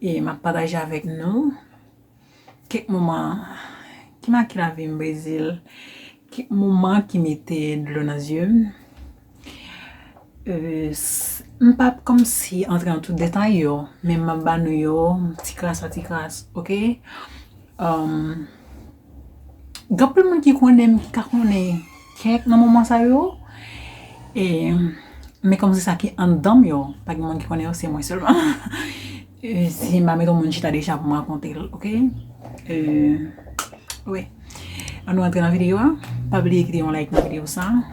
E map pataje avèk nou kèk moman ki make lavi m Brezil, kèk moman ki mete dlo nan zye m. M pap kòmsi antre nan tout detay yo, men map ba nou yo ti kras a ti kras ok. Gen anpil moun ki konnen m ki ka konnen kèk nan moman sa yo men kòm se sa ki anndan m yo pa gen moun ki konnen yo se mwen sèlman si m pa met yon moun chita deja pou m rakonte l ok Annou antre nan videyo a pa bliye kite yon like nan videyo sa.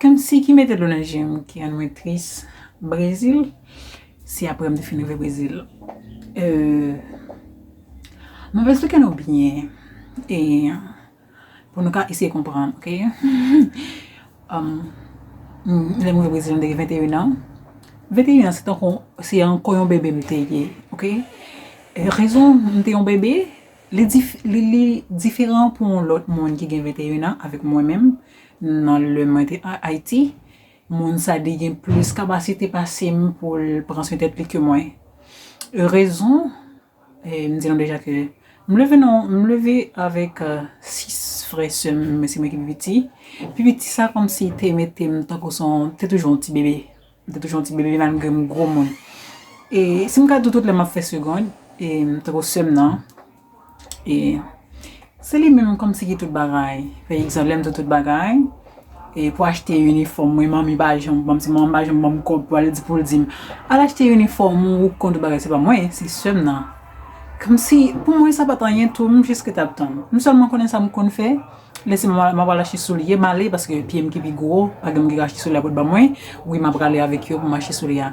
Kmsi ki mete dlo nan jem ki rann mwen tris brezil si aprem te fin rive brezil euh map esplike nou byen e pou nou ka eseye konprann ok lèm rive brezil mte gen 21 ans 21 ans se tankou se ankò yon bebe mte ye ok rezon mte yon bebe Li diferan pou yon lòt moun ki gen 21 an avèk mwen menm nan lè mwen te Ayiti. Moun sa li gen plis kapasite pase m pou l pran swen tèt li ke mwen. Rezon, m di nou deja ke m leve nan, m leve avèk 6 frè sè m, men se mwen ki pi piti. Pi piti sa kòmsi te mete m tankou son, te toujou yon ti bebe. M te toujou yon ti bebe malgre m gwo moun. E si m ka di w tout lè m ap fè segond, e tankou sè m nan, e se li menm kòmsi ki tout bagay. Pa egzanp, lè m di w tout bagay, e pou achte inifòm mwen, manmi pa janm ban m, se manman m pa janm ban m kòb pou al di pou l di m, al achte inifòm ou, ou k konn tout bagay, se pa mwen, se sè m nan. Kòmsi pou mwen sa pa t anyen tou, m jis rete ap tann. M sèlman konnen sa m konn fè. Lese mwen mwen pral achte soulye male paske pyem ki pi gwo pa gen moun ki ka achte soulye a pot ba mwen wi map prale avèk yo pou m achte soulye a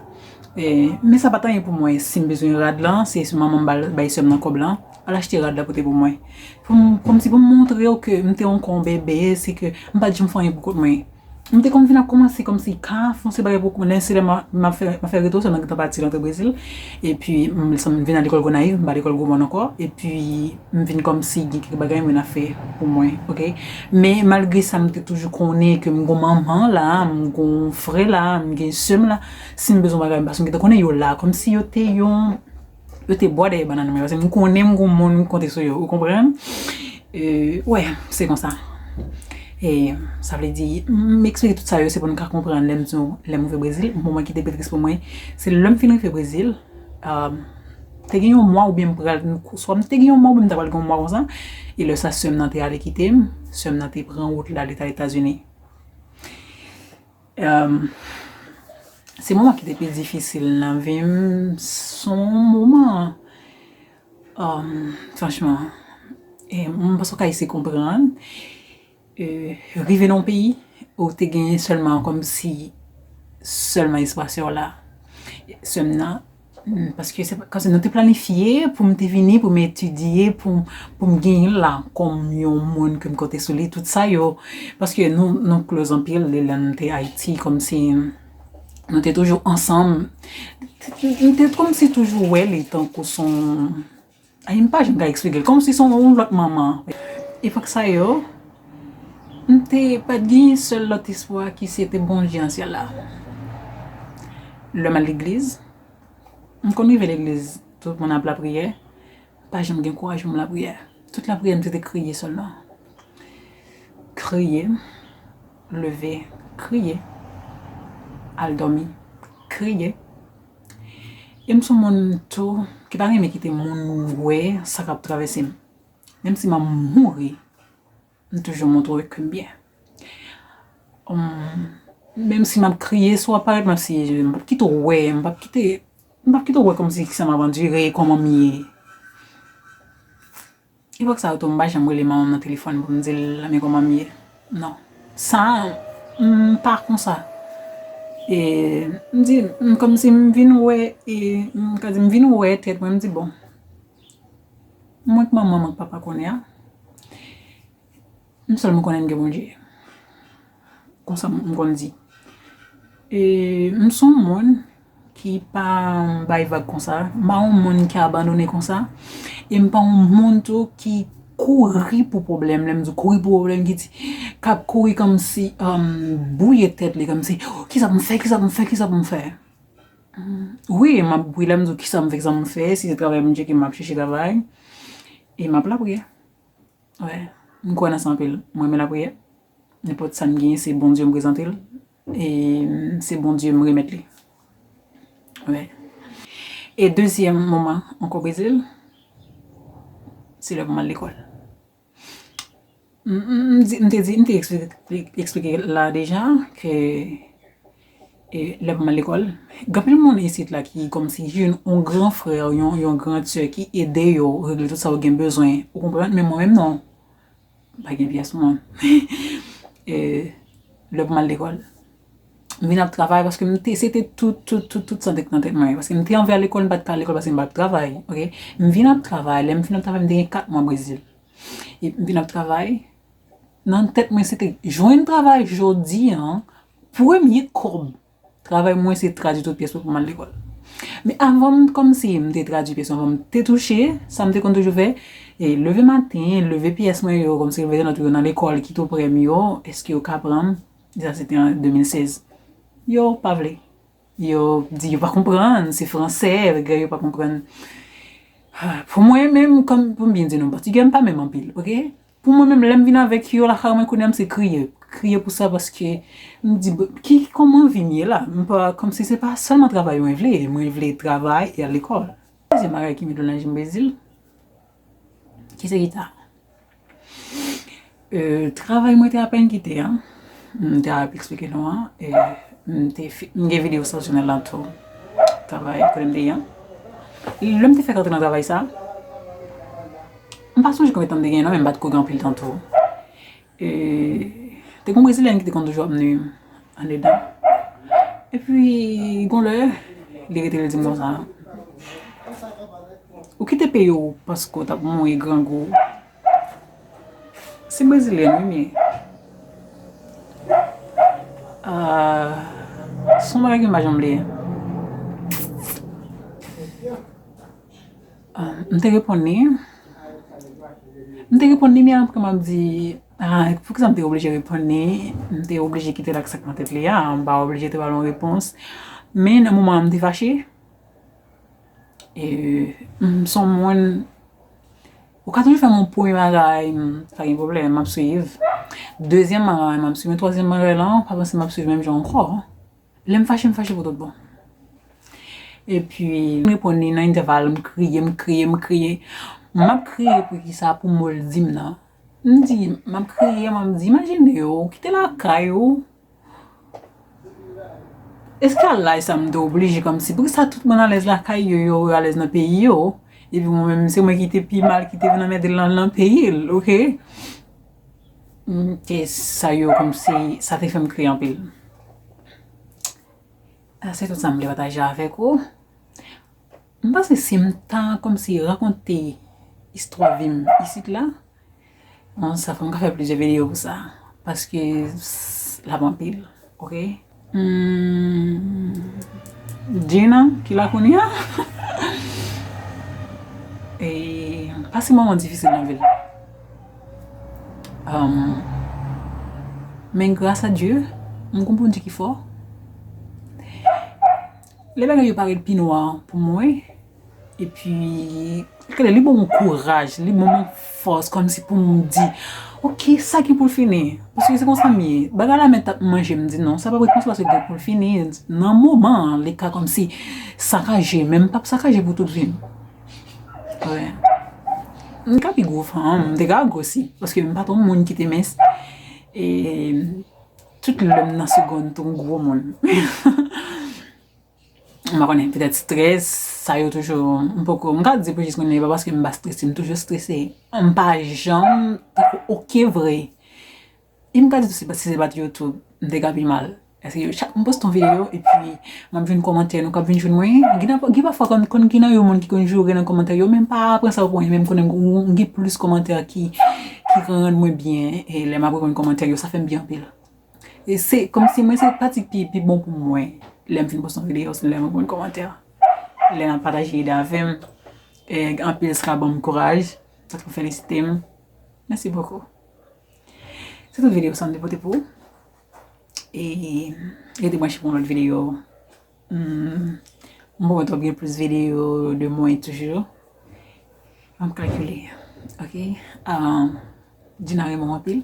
men sa pat anyen pou mwen sim bezwen rad lan se manmanm bal bay sèm nan kòb lan al achte rad la pote pou mwen poum kòmsi poum montrew ke m te ankò yon bebe se ke m pat janm fè anyen pou kont mwen. M te konn vin ap kòmanse kòmsi ka fon se bagay pou kou nen se lè m ap fè m ap fè reto sèlman m gentan pati rantre Brezil epi m m vin al lekòl Gonayiv m pa lekòl gwo mòn ankò epi m vin kòmsi gen kèk bagay mwen ap fè pou mwen ok men malgre sa m te toujou konnen ke m gon manman la a m gon frè la a m gen sè m la si m bezwen bagay paske m gentan konnen yo la kòmsi yo te yon Yo te bò dèyè banann mwen paske m konnen m gon moun m konte sou yo ou konprann euh wè se konsa e sa vle di m eksplike tout sa yo se pou nou ka konprann lè m di nou lè m rive brezil moman ki te pi tris pou mwen se lè m fin rive brezil euh te gen yon mwa oubyen m pral swa m te gen yon mwa oubyen m ta pral gen yon mwa konsa e lè sa sè m nan te ale kite m sè m nan te pran wout l ale ta etazini. Se moman ki te pi difisil nan vi m. Se yon moman, franchman, m panse w ka eseye konprann. Rive nan yon peyi ou te genyen sèlman kòmsi sèlman espas sa w la. Sè m nan, Paske se kòmsi nou te planifye pou m te vini pou m etidye, pou m genyen la kòm yon moun ke m konte sou li tout sa yo. Paske nou klòz anpil de lè nou te Ayiti kòmsi nou te toujou ansanm. M te kòmsi toujou wè li tankou son Anh m pa janm ka eksplike l kòmsi se yon lòt manman. Epòk sa yo, m te pa t gen sèl lòt espwa ki se te Bondye nan syèl la. Lè m al legliz, m konn rive legliz tout moun ap lapriyè, m pa janm gen kouraj pou m lapriyè. Tout lapriyè m se te kriye sèlman. Kriye, leve, kriye, al dòmi, kriye. E m son moun tou ki pa renmen kite moun wè sa k ap travèse m. Menm si m ap mouri, m toujou montre ke m byen. Menm si m ap kriye sou aparèy, m ap siye je m. M pap kite w wè, m pap kite w wè kòmsi ki sa m ap andire, kòman m ye. Epòk sa yo tou m pa janm rele manman m nan telefòn pou m di l men kòman m ye non sa m pa konsa e m di m kòmsi m vin wè e m ka di m vin wè tèt mwen m di bon mwen k manman mwen k papa kounye a M sèlman konnen m gen Bondye. Konsa m konn di. E m s on moun ki pa bay vag konsa. M pa on moun ki abandone konsa. E m pa on moun tou ki kouri pou pwoblèm. Lè m di kouri pou pwoblèm ki di k ap kouri kòmsi bwouye tèt li kòmsi ki sa pou m fè, ki sa pou m fè, ki sa pou m fè. Wi, m ap wi lè m di w ki sa m fè, ki sa pou m fè. Si se travay Bondye ki m ap chèche travay. E m ap lapriyè. Wi, m kwè nan sa anpil. M renmen lapriyè. Nenpòt sa m genyen se Bondye m prezante l e se Bondye m remèt li. Wi. E dezyèm moman m ko beze l, se lè pou m al lekòl. M te di, m te eksplike la deja ke E lè mwen lekòl, gen anpil moun isit la ki kòmsi ki jwenn yon gran frè, yon yon grand sè ki ede yo regle tout sa yo gen bezwen. Ou konprann? Men mwen menm non. M pa gen pyès moun. E lè pou m al lekòl, m vin ap travay paske m te se te tout tout tout tout sa te nan tèt mwen. Paske m te anvi al lekòl, m pa t ka al lekòl paske m pa t travay. Ok? M vin ap travay. Lè m fin ap travay m te gen kat mwa Brezil. Epi m vin ap travay. Nan tèt mwen se te jwenn travay jodi an Premye kòm travay mwen se tradui tout pyès mwen pou m al lekòl. Men avan m kòmnse m te tradui pyès avan m te touche, sa m te konn toujou fè, e leve maten, leve pyès mwen yo, kòmnse mete nòt yo nan lekòl ki tou prè m yo, èske yo ka pran m, e sa se te an 2016. Yo pa vle. Yo di yo pa konprann, se fransè, bagay yo pa konprann. Pou mwen menm, kòm pou m byen di nou, pòtigè m pa menm anpil, ok. Pou mwen menm lèm vin avèk yo lakay mwen kounya m se kriye, kriye pou sa paske m di ki kòman vi m ye la, m pa kòmsi se pa sèlman travay mwen vle, mwen vle travay e al lekòl. Dezyèm bagay ki met mwen nan je m Brezil, ki se gita. Travay mwen te apèn kite an, m te ap eksplike nou an, m te m gen videyo sa sou chanèl la tou, travay kote m te ye an. Lè m te fèk antre nan travay sa, M pa sonje konbyen tan m te genyen non men m pa t ko gen anpil tan tou. E te gon brezilyèn ki te konn toujou ap nui m andedan. Epi gon lè li rete li di m konsa, ou kite peyi w paske w t ap mouri grangou. Se brezilyèn wi men son bagay ke m pa janm bliye. M te reponn li, m te reponn li men apre m ap di, ah pou kisa m te oblije reponn li, m te oblije kite l ak sa k nan tèt li a, m pa oblije te ba l yon repons. Men nan moman an m te fache, m s on moun, ou ka toujou fè m yon premye bagay, pa gen pwoblèm, m ap suiv, dezyèm bagay m ap suiv, men twazyèm bagay lan, pa panse m ap suiv menm jan ankò. Lè m fache m fache pou tout bon. Epi m reponn li nan entèval m kriye m kriye m kriye. M ap kriye poukisa pou mo l di m nan. M di m ap kriye m ap di imajine ou kite lakay ou eske al laj sa m te oblije kòmsi poukisa tout moun alèz lakay yo yo alèz nan peyi yo epi mwen menm se mwen ki te pi mal ki te vin anmède l nan peyi l ok. E sa yo kòmsi sa te fèm kriye anpil. Se tout sa m te pataje avèk ou. M panse si m ta kòmsi rakonte istwa vi m isit la, bon sa fòk m ta fè plizyè videyo pou sa paske l ap anpil ok. Humm Djina ki la kounya Eee pase moman difisil nan vil Humm men gras a Dye m gon Bondye ki fò Le bagay yo parèt pi nwa pou mwen Epi, kèlè li ban mwen kouraj, li ban mwen fòs kòm si pou m di, ok, sa gen pou l fini. Paske se konsa m ye. Bagay la menm t ap manje m di non, sa pa pou l konsa paske gen pou l fini. Nan moman an, li ka kòm si sakaje, men m p ap sakaje pou tout vi m. Wè. M ka pi gwo fanm, m te ka gwosi. Paske m pa t yon moun ki te mens. E tout lè m nan segonn tou m gwo moun. M pa konnen, petèt strès, sa yo toujou, m poko, m ka di pou jis mwen menm, e pa paske m pa strese, m toujou strese. M pa janm, ok vre, e m ka di tou se pa, si se pa t YouTube, m te ka pi mal. Eske yo chak m poste yon videyo, e pi m ap jwenn kòmantè nou k ap vin jwenn mwen, gen pafwa konn, konn gen nan yo moun ki konn joure nan kòmantè yo, men m pa pran sa pou anyen, men m konnen m gen plis kòmantè ki, ki konn rann mwen byen, e lè m ap reponn kòmantè yo, sa fè m byen anpil. Se kòmsi mwen se pati ki pi bon pou mwen lè m fin poste yon videyo se lè mwen konn kòmantè. Lè nan pataje ide avè m. Anpil sa ban m kouraj. Sa tou felisite m. Mèsi bokou. Se tout videyo sa m te pote pou ou. E rete bwanche pou yon lòt videyo. M pwomèt w ap gen plis videyo de mwen toujou. An m kalkile. Ok. Dina renmen w anpil.